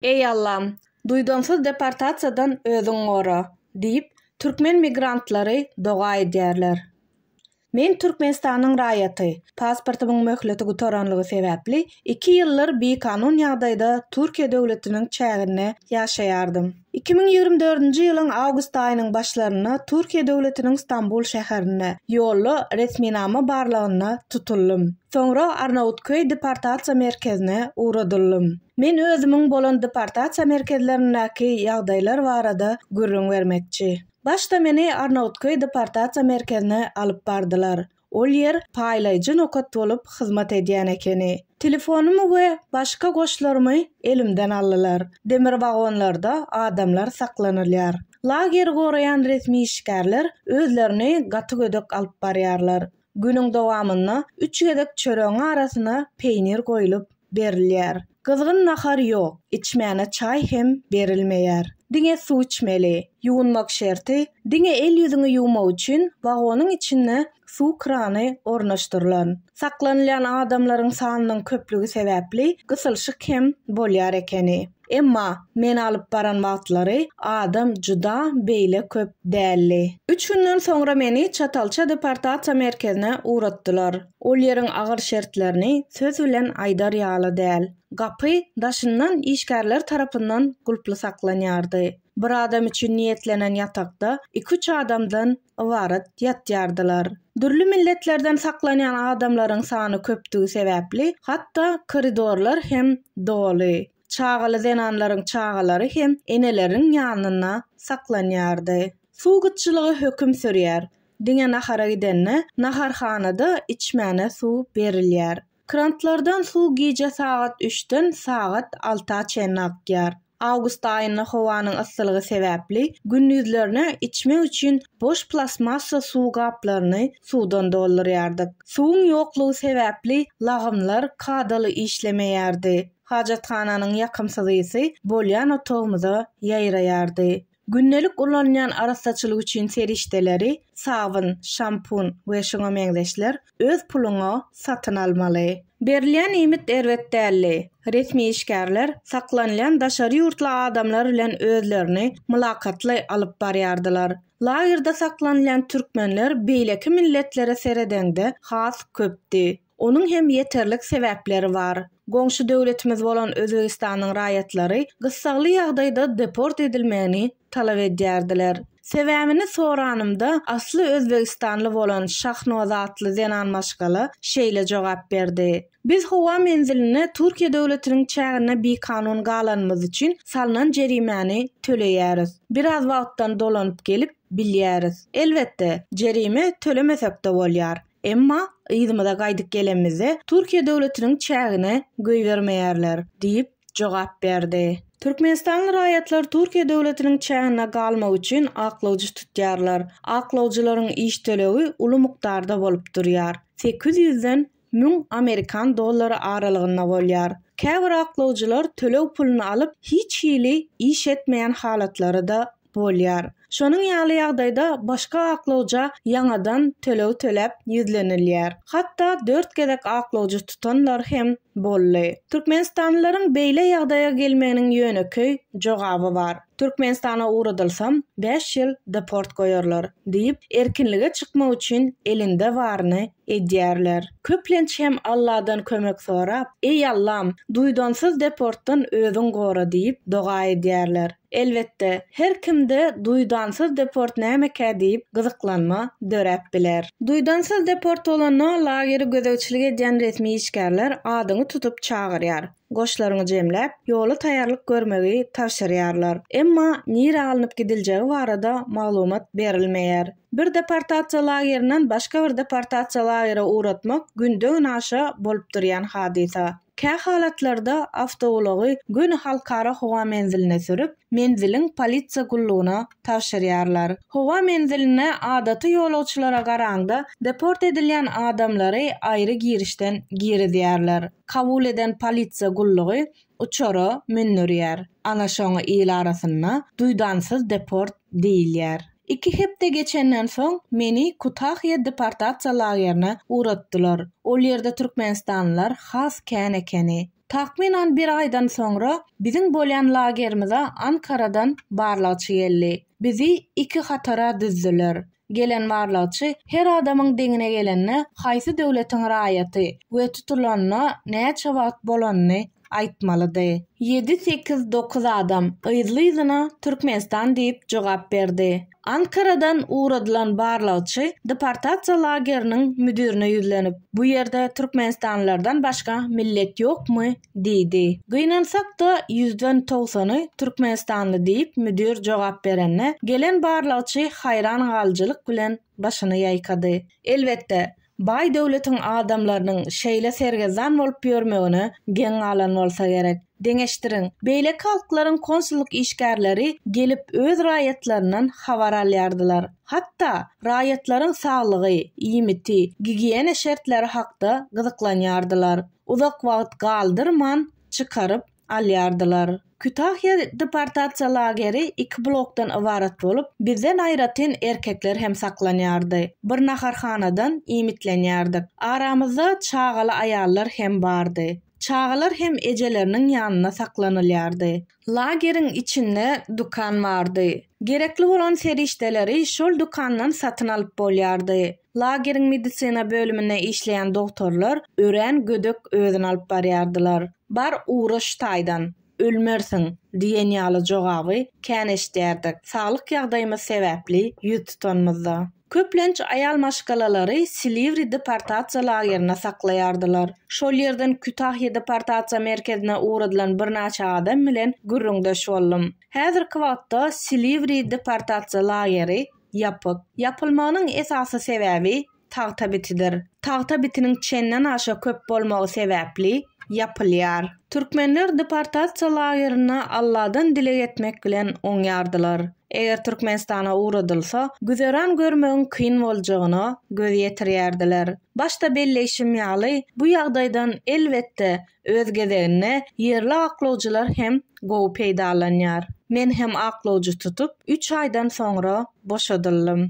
Eý Allam, duýdansyz deportasiýadan özüň gora! diýip, türkmen migrantlary doga edýärler. Men Türkmenistanyň raýaty, pasportymyň möhleti gutaranlygy sebäpli Iki ýyllar bikanun ýagdaýda Türkiýe döwletiniň çäginde ýaşaýardym. Iki müň ýigrimi dördünji ýylyň awgust aýynyň başlarynda Türkiýe döwletiniň Stambul şäherinde, ýolda resminama barlagynda tutuldym. Soňra Arnawutköý deportasiýa merkezine ugradyldym. Men özümiň bolan deportasiýa merkezlerindäki ýagdaýlar barada gürrüň bermekçi. Başda meni Arnawutköý deportasiýa merkezine alyp bardylar. Ol ýer paýlaýjy nokat bolup hyzmat edýän ekeni. Telefonymy we başga goşlarymy elimden aldylar. Demir wagonlarda adamlar saklanylýar. Lageri goraýan resmi işgärler özlerini gaty gödek alyp barýarlar. Günüň dowamynda üç gezek çöregiň arasyna peýnir goýlup, berilýär. Gyzgyn nahar ýok, içmäne çaý hem berilmeýär. Diňe suw içmeli. Ýuwunmak şerti, diňe el-ýüzüňi ýuwmak üçin wagonyň içinde suw krany ornaşdyrylan. Saklanylýan adamlaryň sanynyň köplügi sebäpli gysylyşyk hem bolýar ekeni. Emma men alyp baran wagtlary adam juda beýle köp däldi. Üç günden soňra meni Çatalça deportasiýa merkezine ugratdylar. Ol ýeriň agyr şertlerini söz bilen aýdar ýaly däl. Gapy daşyndan işgärler tarapyndan gulply saklanýardy. Bir adam üçin niýetlenen ýatakda iki-üç adamdan ybarat ýatýardylar. Dürli milletlerden saklanýan adamlaryň sany köpdügi sebäpli, hatda koridorlar hem doly. Çagaly zenanlaryň çagalary hem eneleriniň ýanynda saklanýardy. Suw gytçylygy höküm sürýär. Diňe nahara gidende naharhanada içmäne suw berilýär. Krantlardan suw gije sagat üçden sagat alta çenli akýar. Awgust aýynda howanyň yssylygy sebäpli gündizlerine içmek üçin boş plastmassa suw gaplaryny suwdan doldurýardyk. Suwuň ýoklugy sebäpli lagymlar kadaly işlemeýärdi. Hajathananyň ýakymsyz ysy bolýan otagymyza ýaýraýardy. Gündelik ulanylýan arassaçylyk üçin serişdeleri, sabyn, şampun we şuňa meňzeşler, öz puluňa satyn almaly. Berilýän iýmit erbet däldi. Resmi işgärler saklanylýan daşary ýurtly adamlar bilen özlerini mylakatly alyp barýardylar. Lagerde saklanylýan türkmenler beýleki milletlere seredeňde has köpdi. Onuň hem ýeterlik sebäpleri bar. Goňşy döwletimiz bolan Özbegistanyň raýatlary gyssagly ýagdaýda deport edilmegini talap edýärdiler. Sebäbini soranymda, asly özbegistanly bolan Şahnoz atly zenan maşgala şeýle jogap berdi, Biz howa menzilinde Türkiýe döwletiniň çäginde bikanun galanymyz üçin salnan jerimäni töleýäris. Biraz wagtdan dolanyp gelip bilýäris. Elbetde, jerime tölemesek-de bolýar. Emma yzymyza gaýdyp gelenimizde Türkiýe döwletiniň çägine goýbermeýärler diýip jogap berdi. Türkmenistanly raýatlar Türkiýe döwletiniň çäginde galmak üçin aklawjy tutýarlar. Aklawjylaryň iş tölegi uly mukdarda bolup durýar. Sekiz ýüzden müň amerikan dollary aralygynda bolýar. Käbir aklawjylar töleg puluny alyp hiç hili iş etmeýän halatlary-da bolýar. Şonuň ýaly ýagdaýda başga aklawja ýaňadan töleg töläp ýüzlenilýär. Hatda dört gezek aklawjy tutanlar hem boldy. Türkmenistanlylaryň beýle ýagdaýa gelmeginiň ýönekeý jogaby bar. Türkmenistana ugradylsam, bäş ýyl deport goýarlar diýip, erkinlige çykmak üçin elinde baryny edýärler. Köplenç hem Alladan kömek sorap, Eý, Allam, duýdansyz deportdan özüň gora diýip doga edýärler. Elbetde, her kimde duýdansyz deport nämekä diýip gyzyklanma döräp biler. Duýdansyz deport bolanda lageri gözegçilik edýän resmi işgärler adyňy tutup çagyrýar, goşlaryňy jemläp, ýola taýýarlyk görmegi tabşyrýarlar. Emma nirä alnyp gidiljegi barada maglumat berilmeýär. Bir deportasiýa lagerinden başga bir deportasiýa lagere ugratmak günde-günaşa bolup durýan hadysa. Kä halatlarda awtoulagy göni halkara howa menziline sürüp, menziliň polisiýa gullugyna tabşyrýarlar. Howa menzilinde adaty ýolagçylara garaňda deport edilýän adamlary aýry girişden girizýärler. Kabul eden polisiýa gullugy uçara mündürýär. Ana şoňa il arasynda duýdansyz deport diýilýär. Iki hepde geçenden soň meni Kutahya deportasiýa lagerine ugratdylar. Ol ýerde türkmenistanlylar has kän ekeni. Takmynan bir aýdan soňra biziň bolýan lagerimize Ankaradan barlagçy geldi. Bizi iki hatara düzdüler. Gelen barlagçy her adamyň deňine gelende haýsy döwletiň raýaty we tutulanyna näçe wagt bolanyny aýtmalydy. Ýedi-sekiz-dokuz adam yzly-yzyna Türkmenistan diýip jogap berdi. Ankaradan ugradylan barlagçy deportasiýa lageriniň müdirine ýüzlenip, Bu ýerde türkmenistanlylardan başga millet ýokmy? diýdi. Gynansak-da, ýüzden togsany türkmenistanly diýip müdir jogap berende, gelen barlagçy haýran galyjylyk bilen, başyny ýaýkady. Elbetde, baý döwletiň adamlarynyň şeýle sergezdan bolup ýörmegine geň galan bolsa gerek. Deňeşdiriň, beýleki halklaryň konsullyk işgärleri gelip öz raýatlaryndan habar alýardylar. Hatda, raýatlaryň saglygy, iýmiti, gigiýena şertleri hakda gyzyklanýardylar. Uzak wagt galdyrman, çykaryp, alýardylar. Kütahýa deportasiýa lageri iki blokdan ybarat bolup, bizden aýratyn erkekler hem saklanýardy. Bir naharhanadan iýmitlenýärdik. Aramyzda çagaly aýallar hem bardy. Çagalar hem ejeleriniň ýanynda saklanylýardy. Lageriň içinde dükan bardy. Gerekli bolan serişdeleri şol dükandan satyn alyp bolýardy. Lageriň medisina bölüminde işleýän dogtorlar örän gödek özüni alyp barýardylar. Bar ugra şu taýdan, ölmersiň! diýen ýaly jogaby kän eşidýärdik, saglyk ýagdaýymyz sebäpli ýüz tutanymyzda. Köplenç aýal maşgalalary Silivri deportasiýa lagerinde saklaýardylar. Şol ýerden Kütahýa deportasiýa merkezine ugradylan birnäçe adam bilen gürrüňdeş boldum. Häzirki wagtda Silivri deportasiýa lageri Ýapyk. Ýapylmagynyň esasy sebäbi tagta bitidir. Tagta bitiniň çenden aşa köp bolmagy sebäpli ýapylýar. Türkmenler deportasiýa lagerinde Alladan dileg etmek bilen oňýardylar. Eger Türkmenistana ugradylsa, güzeran görmegiň kyn boljagyna göz ýetirýärdiler. Başda belleýşim ýaly, bu ýagdaýdan, elbetde, Öz gezeginde, ýerli aklawjylar hem gowy peýdalanýar. Men hem aklawjy tutup, üç aýdan soňra boşadyldym.